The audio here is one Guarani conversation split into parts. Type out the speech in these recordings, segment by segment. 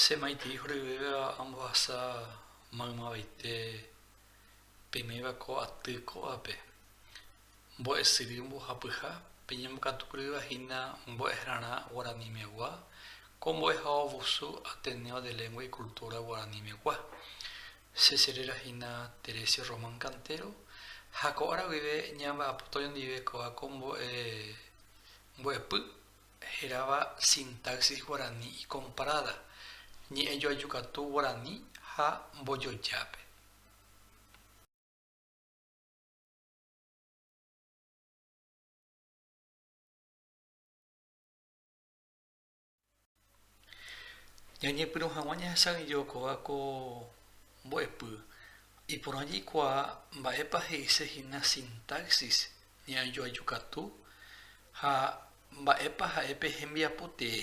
Che maitĩ horyvéva ambohasa maymavaite peiméva ko aty kóvape. Mbo'e syry mbohapyha, peñembokatu kryva hína mbo'ehrarã guaranimegua, ko mbo'eha ovusu Ateneo de Lengua y Cultura Guaranimegua. Che cheréra hína Teresio Román Cantero ha ko ára guive ñamba'apóta oñondive kóva ko mbo'e mbo'epy heráva Sintaxis Guarani y Comparada, Ñe'ẽjoajukatu Guarani ha Mbojojápe. Ñañepyrũ hag̃ua ñahesaguejo kóva ko mbo'epy, iporã jaikuaa mba'épa he'ise hína sintaxis ñe'ajoajukatu ha mba'épa ha'e pe hembiapo tee.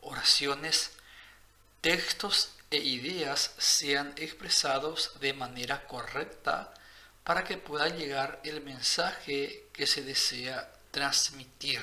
Oraciones, textos e ideas sean expresados de manera correcta para que pueda llegar el mensaje que se desea transmitir.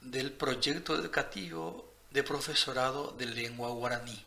del Proyecto Educativo de Profesorado de Lengua Guaraní.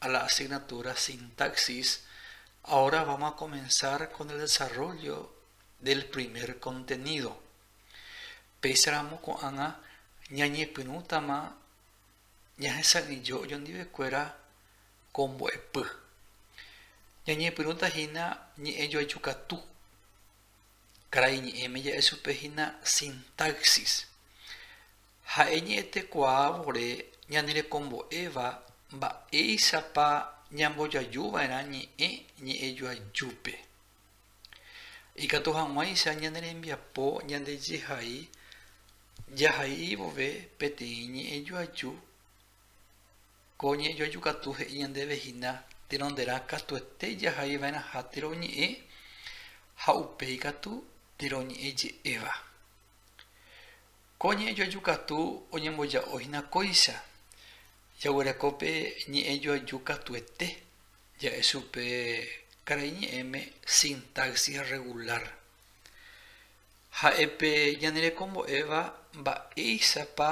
a la asignatura Sintaxis, ahora vamos a comenzar con el desarrollo del primer contenido. Péicharamo ko'ág̃a ñañepyrũtama ñahesa'ỹijo ojondivekuéra ko mbo'epy. Ñañepyrũta hína ñe'ẽjoajukatu, Karai ñe'ẽme ja'e chupe hína sintaxis. Ha'e ñe'ẽtekuaa vore ñanerekombo'éva mba'éichapa ñambojaju va'erã ñe'ẽ ñe'ẽjoajúpe. Ikatu hag̃uáicha ñane rembiapo ñande jehai jahai vove peteĩ ñe'ẽjoaju Ko ñe'ẽjoaju katu he'i ñandéve hína tenonderã katuete jahai va'erãha térõ oñe'ẽ ha upéi katu térõ oñe'ẽ je'éva. Ko ñe'ẽjoaju katu oñemboja'o hína kóicha, jaguereko pe ñe'ẽjoaju katuete ja'e chupe karai ñe'ẽme sintaxis regular. Ha'e pe ñane reko mbo'éva mba'éichapa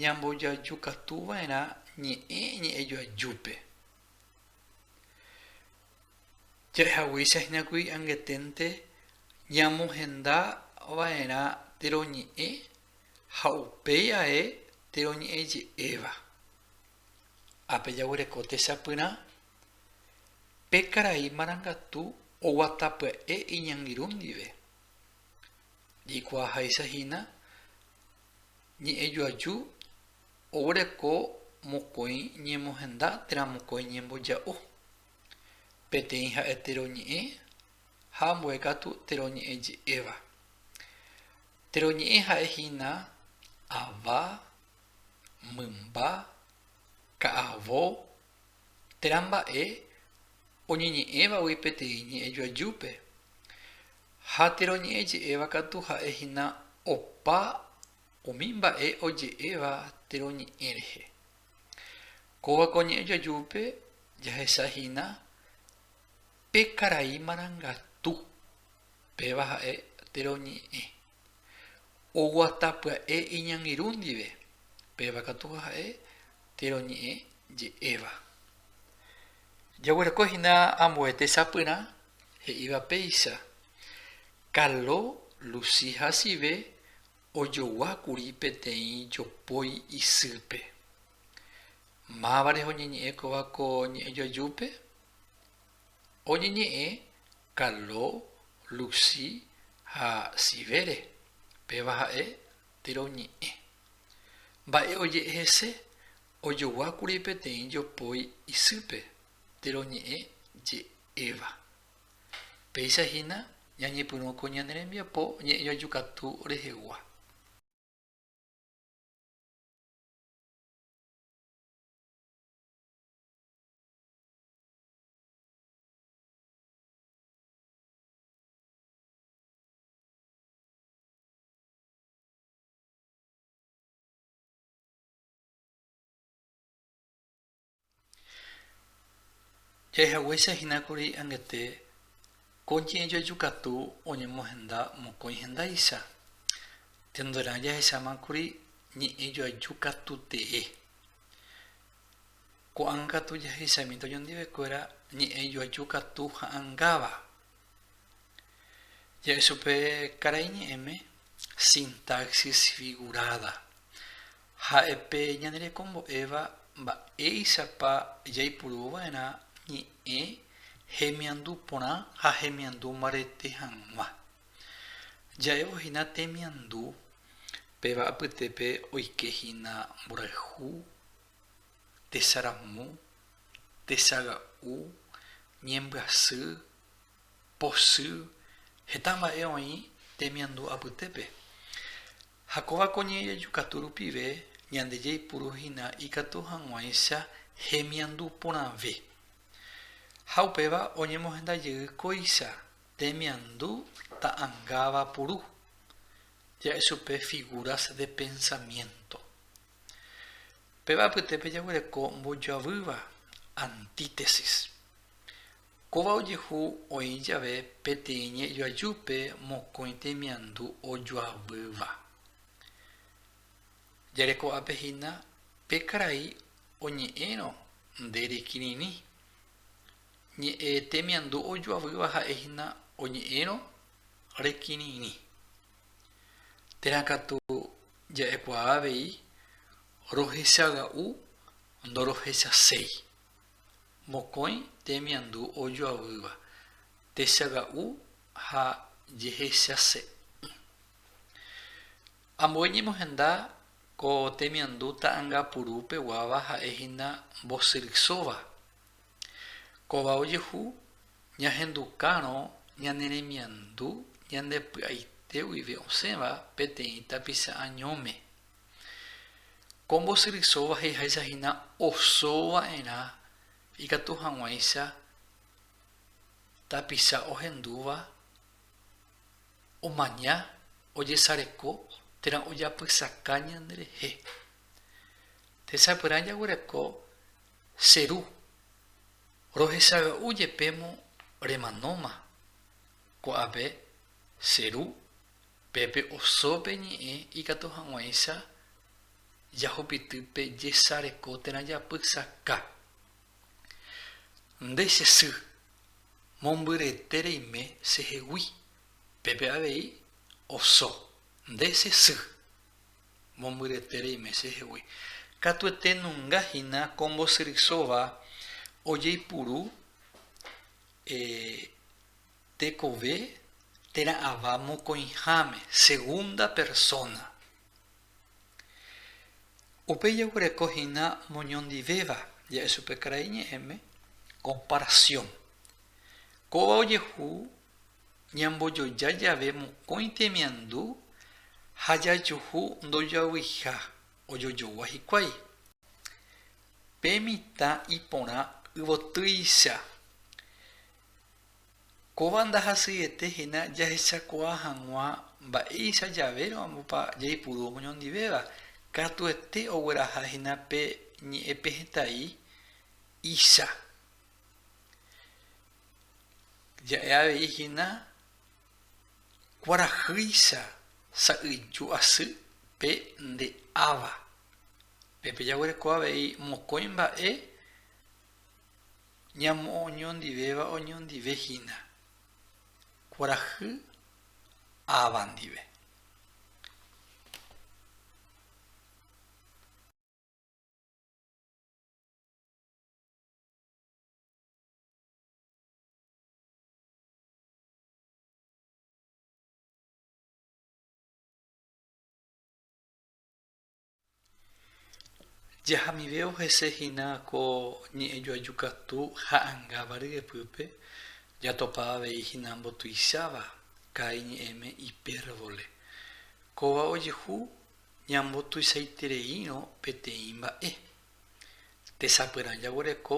ñambojaju katu va'erã ñe'ẽ ñe'ẽjoajúpe. Ja'ehaguéicha hína kuri angeténte ñamohenda va'erã térõ ñe'ẽ ha upéi ae térõ ñe'ẽ je'éva. Ápe jaguereko techapyrã pe karai marangatu oguata pya'e iñangirũ ndive. Jaikuaahaicha hína ñe'ẽjoaju oguereko mokõi ñemohenda térã mokõi ñemboja'o. Peteĩ ha'e teroñe'ẽ ha ambue katu teroñe'ẽje'éva. Teroñe'ẽ ha'e hína ava, mymba, ka'avo, térã mba'e oñeñe'ẽvagui peteĩ ñe'ẽ joajúpe. Ha térõ ñe'ẽ je'éva katu ha'e hína opa umi mba'e oje'éva térõ ñe'ẽ rehe. Kóva ko ñe'ẽ joajúpe jahecha hína pe karai marangatu, péva ha'e térõ ñe'ẽ. Oguata pya'e iñangirũ ndive, péva katu ha'e térõ ñe'ẽ je'éva. Jaguereko hína ambue tesapyrã he'íva péicha, Carlo Lucy hasyve ojogua kuri peteĩ jopói isýpe. Máva reho ñeñe'ẽ kóva ko ñe'ẽjoajúpe? oñeñe'ẽ Carlo, Lucy ha Sivere, péva ha'e térõ ñe'ẽ. Mba'e oje'e hese, ojoguákuri peteĩ jopói isýpe térõ ñe'ẽ je'éva. Péicha hína ñañepyrũ ko ñane rembiapo ñe'ẽjoajukatu rehegua. Jahaguéicha hína kuri angete ko ñe'ẽjoaju katu oñemohenda mokõi hendáicha, tenderã jahecháma kuri ñe'ẽjoaju katu tee. Ko'ág̃a katu jahechamínte oñondivekuéra ñe'ẽ joaju katu ha'angáva. Ja'e chupe karai ñe'ẽme sintaxis figurada. Ha'epe ñanerekombo'éva mba'éichapa jaipuruova'erã ñe'ẽ hemiandu porã ha hemiandu mbarete hag̃ua. Ja'évo hína temiandu, péva apytépe oike hína mborayhu, tesaramu, tesaga'u, ñembyasy, posy, heta mba'e oĩ temiandu apytépe. Ha kóva ko ñe'ẽjaju katu rupive ñande jaipuru hína ikatu hag̃uáicha hemiandu porãve. Ha upéva oñemohenda jey kóicha temiandu ta'angáva puru, ja'e chupe figuras de pensamiento. Péva apytépe jaguereko mbojoavýva antítesis. Kóva ojehu oĩ jave peteĩ ñe'ẽjoajúpe mokõi temiandu ojoavýva. Jareko'ápe hína pe karai oñe'ẽrõ nde rekirirĩ. Ñe'ẽtemiandu ojoavýva ha'e hína oñe'ẽrõ rekirirĩ. Térã katu ja'ekuaa avei rohechaga'u ndorohechaséi. Mokõi temiandu ojoavýva, techaga'u ha jehechase'ỹ. Ambue ñemohenda ko temiandu ta'angapuru peguáva ha'e hína mbosyrysóva. Kóva ojehu ñahendukárõ ñane remiandu ñande py'aite guive osẽva peteĩ tapicha añóme. Ko mbosyrysóva he'iháicha hína oso va'erã ikatu hag̃uáicha tapicha ohendúva omaña ojesareko térã ojapysaka ñanderehe. Techapyrã jaguereko. Che ru, rohechaga'u jepémo remanóma ko'ápe che ru, pépe osópe ñe'ẽ ikatu hag̃uáicha jahupity pe jesareko térã japysaka. Nde che sy, mombyrete reime chehegui, pépe avei oso, nde che sy. Mombyretére imese hegui. Katuete nunga hína ko mbosyrysóva ojeipuru tekove térã ava mokõiháme, segunda persona. Upéi jaguereko hína moñondivéva, ja'e chupe karai ñe'ẽme, comparación. Kóva ojehu ñambojoja jave mokõi temiandu ha jajuhu ndojoavyiha ojojogua hikuái. Pe mitã iporã yvotýicha. Kóva ndahasyiete hína jahechakuaa hag̃ua mba'éicha javérõpa jaipuru omoñondivéva, katuete ogueraha hína pe ñe'ẽpehẽtai icha. Ja'e avei hína kuarahýicha sa'yju asy pe nde áva. Pépe jaguereko avei mokõi mba'e ñamoñondivéva oñondive hína kuarahy áva ndive. Jahamive ohese hína ko ñe'ẽjoaju katu ha'angáva ryepýpe, jatopa avei hína mbotuicháva ka'i ñe'ẽme ipérvole. Kóva ojehu ñambotuichaitereírõ peteĩ mba'e. Tesapyrã jaguereko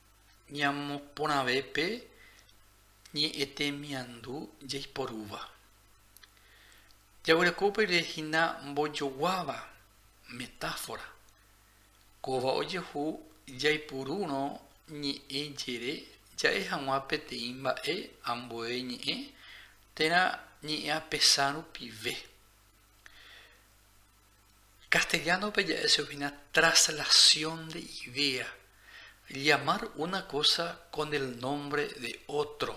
ñamoporãve pe ñe'ẽ temiandu jaiporúva. Jaguereko upeire hína mbojoguáva metáfora. Kóva ojehu jaipurúrõ ñe'ẽ jere ja'e hag̃ua peteĩ mba'e ambue ñe'ẽ térã ñe'ẽapesã rupive. Castellano-pe ja'e che oĩna traslación de idea, llamar una cosa con el nombre de otro.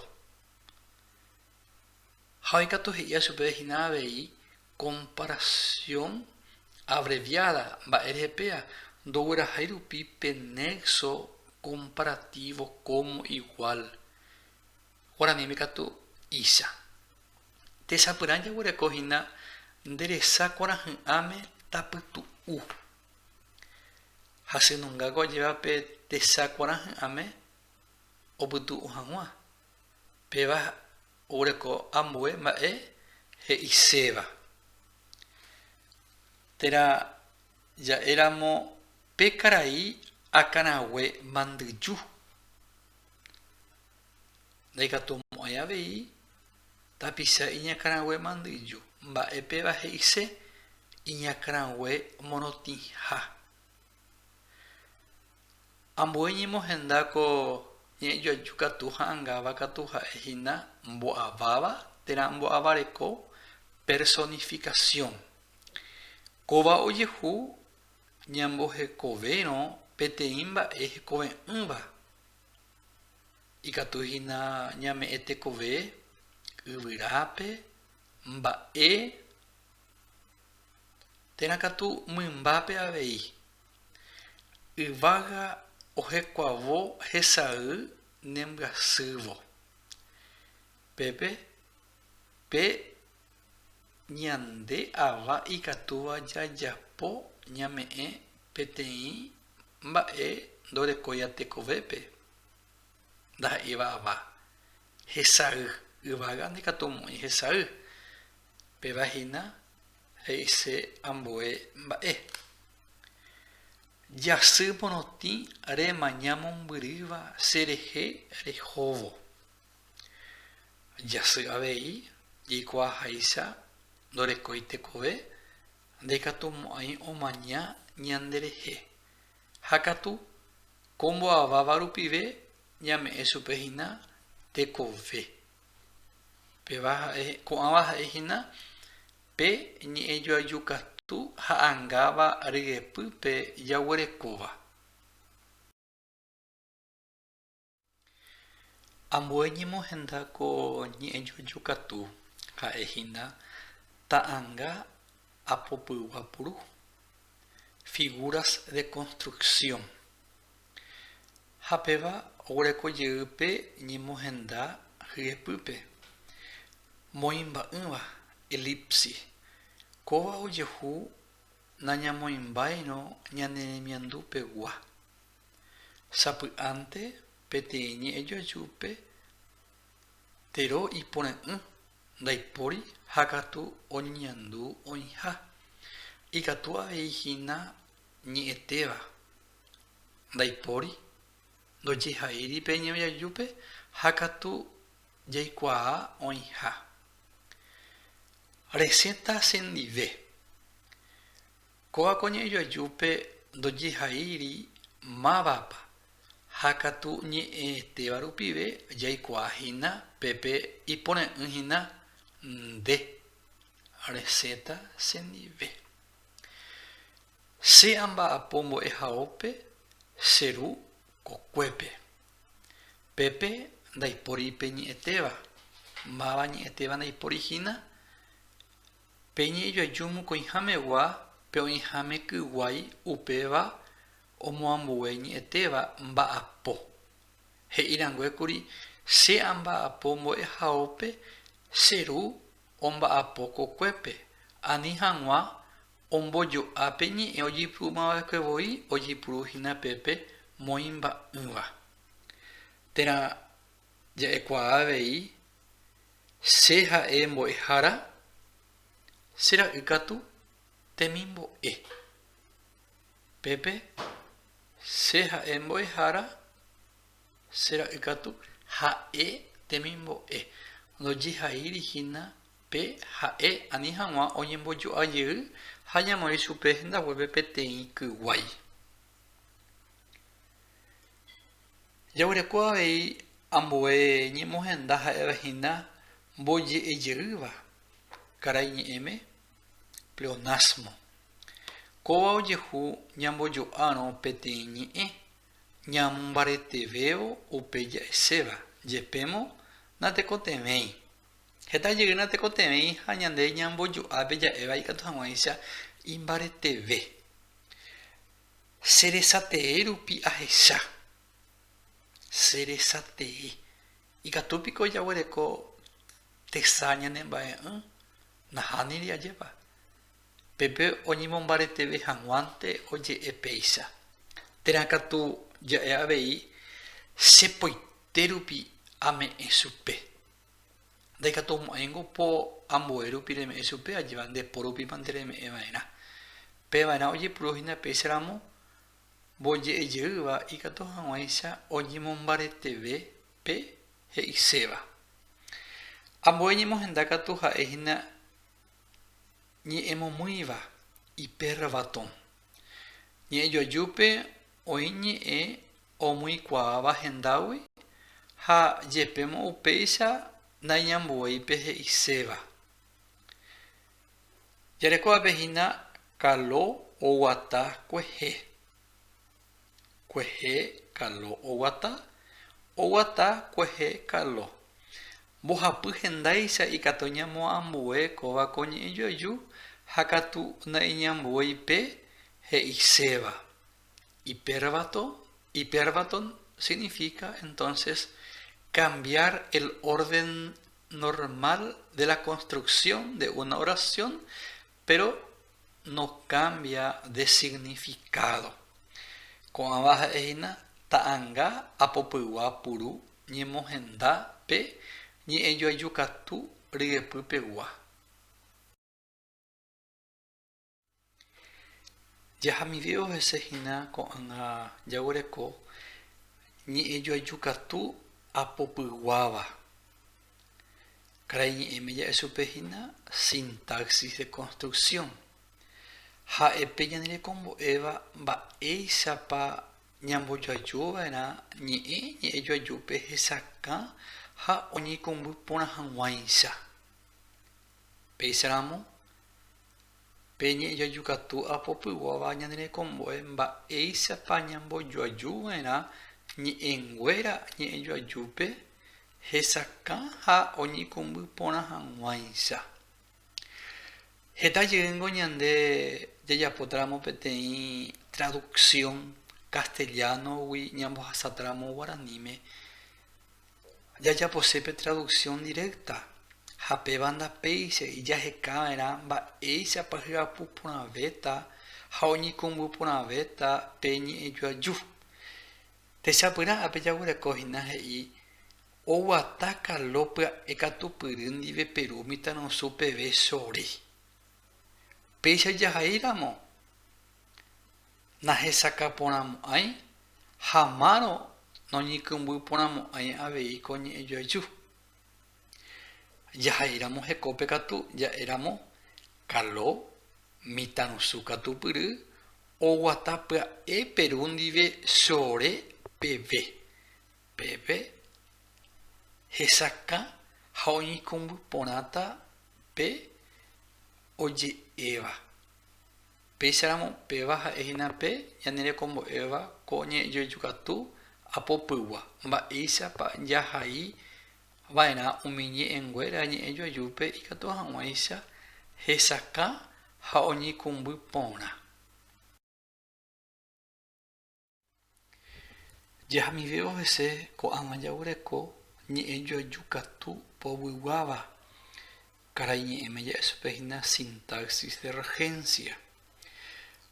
Ha oikatu he'íva chupe hína avei comparación abreviada, mba'e rehe péva ndoguerahái rupi pe nexo comparativo como igual. Guaraníme katu icha. Techapyrã jaguereko hína nde resa kuarahy'ãme tapytu'u. Hasynungáko ajéva pe techa kuarahy'ãme opytu'u hag̃ua. Péva oguereko ambue mba'e he'iséva. Térã ja'éramo pe karai akãrague mandyju. ndaikatumo'ãi avei tapicha iñakãrague mandyju, mba'e péva he'ise iñakãrague morotĩha. Ambue ñemohenda ko ñe'ẽjoaju katu ha'angáva katu ha'e hína mbo'aváva térã mbo'avareko personificación. Kóva ojehu ñambohekovérõ peteĩ mba'e hekove'ỹva. Ikatu hína ñame'ẽ tekove yvyrápe mba'e térã katu mymbápe avei. Yvága ohekuavo hesay nembyasývo. Pépe pe ñande ava ikatúva jajapo ñame'ẽ peteĩ Mba'e ndorekóiva tekovépe ndaha'éiva ava, hesay. Yvága ndaikatu omoĩ hesay. Péva hína he'ise ambue mba'e. Jasy morotĩ remaña mombyrýva che rehe rehóvo. Jasy avei jaikuaaháicha ndorekói tekove. ndaikatumo'ãi omaña ñanderehe, ha katu ko mbo'aváva rupive ñame'ẽ chupe hína tekove. Péva ha'e, ko'ãva ha'e hína pe ñe'ẽjoaju katu ha angáva ryepýpe jaguerekóva. Ambue ñemohenda ko ñe'ẽjojo katu, ha'e hína ta'anga apopygua puru, figuras de construcción. Ha péva oguereko jey pe ñemohenda hyepýpe, moĩmba'ỹva, elipsis. Kóva ojehu nañamoĩmbáirõ ñane remiandu pegua, Sapy'ánte peteĩ ñe'ẽjoajúpe tero iporã'ỹ ndaipóri ha katu oñeñandu oĩha. Ikatu avei hína ñe'ẽtéva ndaipóri ndojeha'éiri pe ñe'ẽjoajúpe ha katu jaikuaa oĩha. Resẽta sendive. Kóva ko ñe'ẽ joajúpe ndojehaíri mávapa, ha katu ñe'ẽetéva rupive jaikuaa hína pépe iporã'ỹ hína nde reseta chendive. Che amba'apo mbo'ehaópe che ru kokuépe. Pépe ndaipóri pe ñe'ẽtéva, máva ñe'ẽtéva ndaipóri hína. Pe ñe'ẽjoaju mokõihamegua pe oĩháme kyguái upéva omoambue ñe'ẽtéva mba'apo. He'i ranguékuri che amba'apo mbo'ehaópe che ru omba'apo kokuépe ani hag̃ua ombojo'a pe ñe'ẽ ojeipy'umava'ekue voi ojeipuru hína pépe moĩmba'ỹva. Térã ja'ekuaa avei Che ha'e mbo'ehára, che ra'y katu temimbo'e. Pépe, Che ha'e mbo'ehára, che ra'y katu ha'e temimbo'e. Ndojehaíri hína pe ha'e ani hag̃ua oñembojo'a jey ha ñamoĩ chupe hendaguépe peteĩ kyguái. Jaguereko avei ambue ñemohenda ha'éva hína mboje'ejeýva karai ñe'ẽme, pleonasmo. Kóva ojehu ñambojo'árõ peteĩ ñe'ẽ, ñamombaretevévo upe ja'eséva, jepémo natekotevẽi. Heta jey natekotevẽi ha ñande ñambojo'ápe ja'éva ikatu hag̃uáicha imbareteve. Che resa tee rupi ahecha. Che resa tee. Ikatu piko jaguereko tesa ñane mba'e'ỹ? Nahániri ajépa. Pepe oñemombareteve hag̃uánte oje'e péicha. Térã katu ja'e avei che poite rupi ame'ẽ chupe. Ndaikatu omo'ãingo po ambue rupi reme'ẽ chupe ajépa nde po rupípa nde reme'ẽ va'erã. Pe va'erã ojepuru hína péicha ramo, mboje'e jeýva ikatu hag̃uáicha oñemombareteve pe he'iséva. Ambue ñemohenda katu ha'e hína. Ñe'ẽmomýiva, ipérra vatõ. Ñe'ẽjoajúpe oĩ ñe'ẽ omyikuaáva hendágui ha jepémo upéicha naiñambuéi pe he'iséva. Jarekóvape hína kalo oguata kuehe. Kuehe kalo oguata, oguata kuehe kalo. Mbohapy hendáicha ikatu ñamo ambue kóva ko ñe'ẽ joaju ha katu naiñambuéi pe he'iséva. Ipérvato, hiperbaton significa entonces cambiar el orden normal de la construcción de una oración Péro nokambia de signifikádo. Ko'ãva ha'e hína ta'anga apopygua puru ñemohenda pe ñe'ẽjoajukatu ryepy pegua. Jahamivévo hese hína ko'ãga jaguereko ñe'ẽjoajukatu apopyguáva. Karai ñe'ẽme ja'e chupe hína sintaxis de construcción. Ha'epe ñande rekombo'éva mba'éichapa ñambojoaju va'erã ñe'ẽ ñe'ẽjoajúpe hesakã ha oñeikũmby porã hag̃uáicha. Péicha ramo, pe ñe'ẽjoaju katu apopyguáva ñande rekombo'e mba'éichapa ñambojoaju va'erã ñe'ẽnguéra ñe'ẽjoajúpe Hesakã ha oñekũmby porã hag̃uáicha. Heta jeýngo ñande jajapótaramo peteĩ traduksión castellano-gui ñambohasatáramo guaraníme, jajapose pe traduksión directa ha péva ndapéicha ijahekava'erã mba'éichapa hyapu porãvéta ha oñekũmby porãvéta pe ñe'ẽjoaju. Techapyrã ápe jaguereko hína he'i oguata Carlo pya'e katupyry ndive Peru mitãrusu peve chore. Péicha jahai ramo nahesakã porãmo'ãi ha márõ noñykymby porãmo'ãi avei ko ñe'ẽjoaju. Jaha'eiramo hekópe katu ja'éramo kalo, mitãrusu katupyry oguata pya'e Peru ndive sore peve. Pépe hesakã ha oñeikũmby porãta pe oje'éva. Péicharamo péva ha'e hína pe ñane rekombo'éva ko ñe'ẽjoeju katu apopygua, mba'éichapa jahai va'erã umi ñe'ẽnguéra ñe'ẽjoajúpe ikatu hag̃uáicha hesakã ha oñeikũmby porã. Jahamivévo hese ko'ág̃a jaguereko ñe'ẽjoaju katu povyguáva Karai ñe'ẽme ja'esupe hína sintaxis de regencia.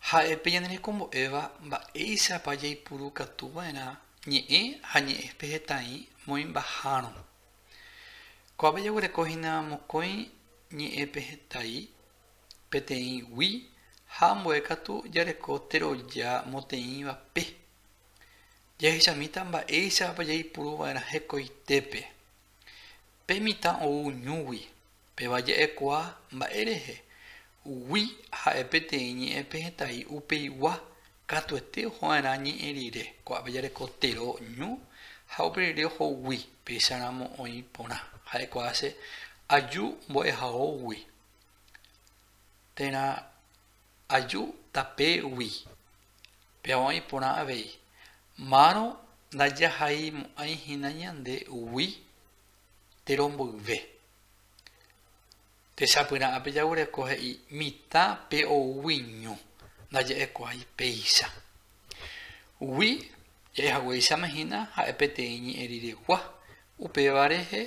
Ha'e pe ñane rekombo'éva mba'éichapa jaipuru katuva'erã ñe'ẽ ha ñe'ẽpe hetaĩ moĩmbahárõ. Ko'ápe jaguereko hína mokõi ñe'ẽpe hetaí, peteĩ gui ha ambue katu jareko teroja moteĩva pe. Jahechamíta mba'éichapa jaipuruva'erã hekoitépe. Pe mitã ou ñúgui, péva ja'ekuaa mba'e rehe, gui ha'e peteĩ ñe'ẽ pehetái upeigua, katuete ohova'erã ñe'ẽ rire, ko'ápe jareko tero ñu ha upe rire ohogui, péicha ramo oĩ porã, ja'ekuaa che aju mbo'ehaógui térã. Aju tape gui. Peavãi porã avei. Márõ ndajahaimo'ãi hína ñande gui térõ mboyve. Techapyrã ape jagureko he'i mitã pe ou gui ñu, ndaja'ekuaái péicha. Gui ja'ehaguéichama hína ha'e peteĩ ñe'ẽ riregua, upéva rehe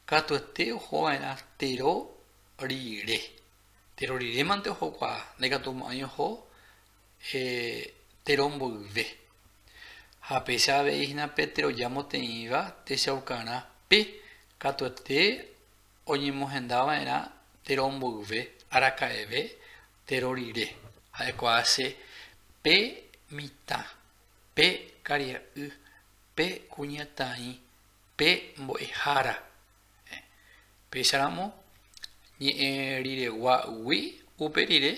katuete ohova'erã térõ rire. Tero rirémante ohokuaa, ndaikatu mo'ãi oho tero mboyve. Ha péicha avei hína pe tero jamoteĩva techaukarã pe katuete oñemohenda va'erã tero mboyve araka'eve tero rire, ha'éko ache pe mitã, pe karia'y, pe kuñataĩ, pe mbo'ehára, Péicharamo ñe'ẽ riregua'ugui upe rire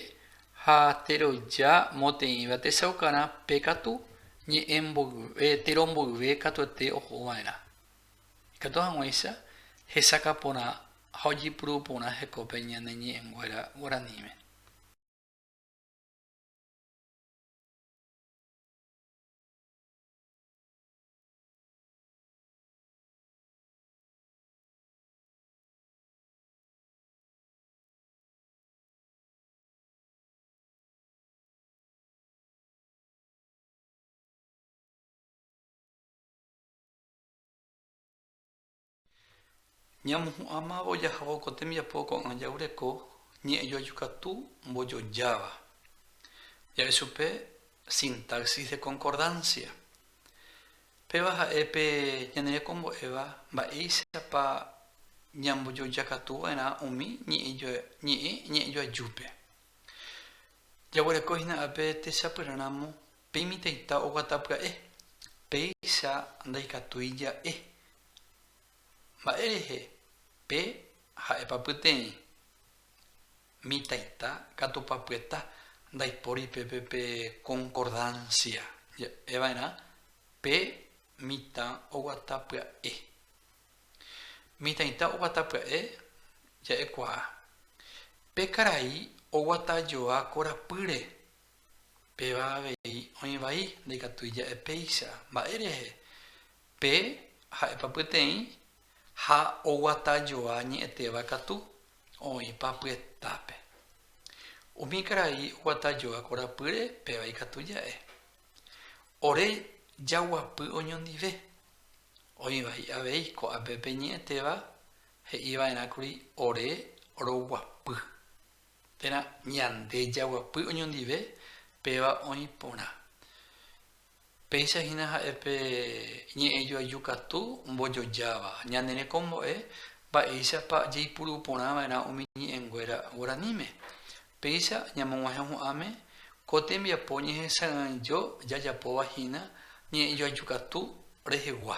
ha teroja moteĩva techaukarã pe katu ñe'ẽ mboyve, tero mboyve katuete oho va'erã. Ikatu hag̃uáicha hesakã porã ha ojepuru porã hekópe ñane ñe'ẽnguéra guaraníme. Ñamohu'ãmávo jahávo ko tembiapo ko'ã jagureko ñe'ẽjoaju katu mbojojáva. Ja'e chupe sintaxis de concordancia. Péva ha'e pe ñane rekombo'éva mba'éichapa ñambojojakatuva'erã umi ñe'ẽ ñe'ẽjoajúpe. Jaguereko hína ápe techapyrãramo pe imitãita oguata pya'e, péicha ndaikatúi ja'e. Mba'érehe pe ha'épa pyteĩ? Mitãita katu papyeta ndaipóri pépe pe konkordansia ja'eva'erã pe mitã oguata pya'e. Mitãita oguata pya'e ja'ekuaa. Pe karai oguata joa korapýre, péva avei oĩ vai ndaikatúi ja'e péicha. Mba'érehe? Pe ha'épa pyteĩ ha oguata joa ñe'ẽtéva katu oĩpa pyetápe. Umi karai oguata joa korapýre péva ikatu ja'e. Ore jaguapy oñondive. Oĩva hi'avéi ko'ápe pe ñe'ẽtéva he'i va'erã kuri ore roguapy. Térã ñande jaguapy oñondive péva oĩ porã. Péicha hína ha'e pe ñe'ẽ joaju katu mbojojáva. Ñane rekombo'e mba'éichapa jaipuru porã va'erã umi ñe'ẽnguéra guaraníme. Péicha ñamog̃uahẽhu'ãme ko tembiapo ñehesa'ỹaijo jajapóva hína ñe'ẽ joaju katu rehegua.